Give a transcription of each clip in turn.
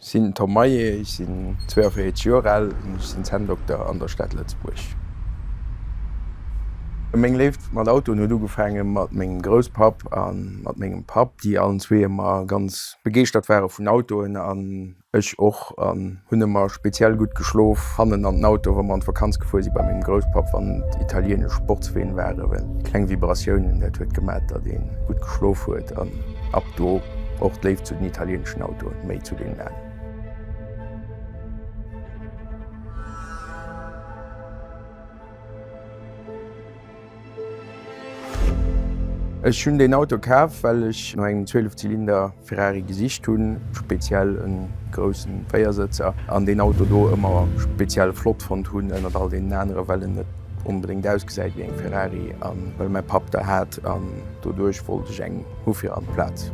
Sinn Tom Maillet, ech sinn 42 Joer al an ech sinn Zänndokter an der Stad Lëtzebuerg. Meng Léift mat Autoen huet ugefaange mat mengem Grousspapp a mat mengem Papp, déi allen zwee ëmmer ganz begeeschtert ware vun Autoen an Ech och an hunn emmer speziell gudd geschlof hannen an den Auto wa mer an d'Vakanz gefuer si bei mengem Grousspapp wann et italienesch Sportsween waren well kleng Vibratiounen dat huet gemat dat een gudd geschlof huet an ab do och d'Léift zu den italieneschen Autoen méi zu deenen alen. Ech hunn deen Auto kaf well ech no engem 12 Zylinder. Ferrari gesicht hunn, speziell e grousse Véiersëtzer, an deen Auto do ëmmer speziell flott fonnt hunn ënnert all deenen anere well en net onbedéngt ausgesäit wéi eng Ferrari a well mäi Papp der hat an doduerch wollt ech eng hu fir an d'Plaz.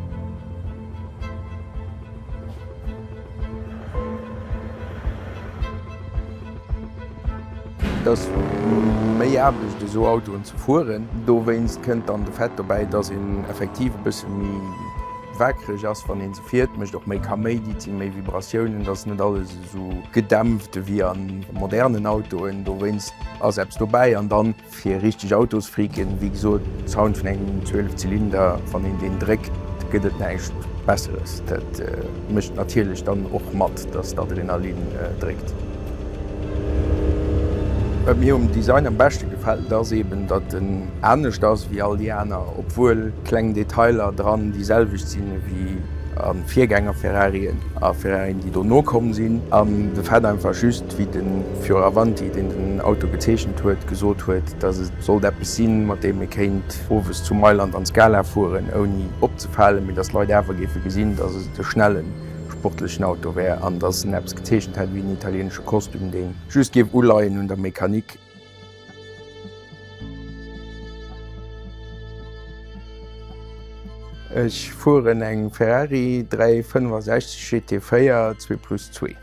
Et ass méi Aarbecht esou Autoen ze fueren. Dowéinst kënnt dann de Fait dobäi, dass een effektiv e bësse méi wakereg ass wann ee se fiert, mécht och méi Kaméidi, et si méi Vibratiounen, et ass net alles esou gedämpft ewéi a modernen Autoen. Dowéinst ass eppes dobäi an dann. Fir richteg Autosfreaken, wéi gesot, Sound vun engem 12 Zylinder, wann een deen dréckt, gëtt et näischt Besseres. Dat mécht natierlech dann och mat, dass d'Adrenalin dréckt. Wat mir um Design am beschte gefält, ass eben, datt en anescht ass wéi all déi aner, obwuel kleng Detailer dran déi selwecht sinn ewéi a Virgänger-Ferrarien a Ferrarien, déi dono komm sinn. An de fait einfach just, wéi de Fioravanti, deen den Auto gezeechent huet, gesot huet, datt et sollt eppes sinn, mat deem ee kéint owes zu Mailand an d'Scala fueren, ouni opzefalen, mee datt d'Leit awer géife gesinn, datt et e schnelle sportlechen Auto wär an datt en eppes gezeechent hätt wéi en italieenesche Kostüm, dee just géif uleien un der Mechanik. Ech fueren eng Ferrari 365 GT4 zwee plus zwee.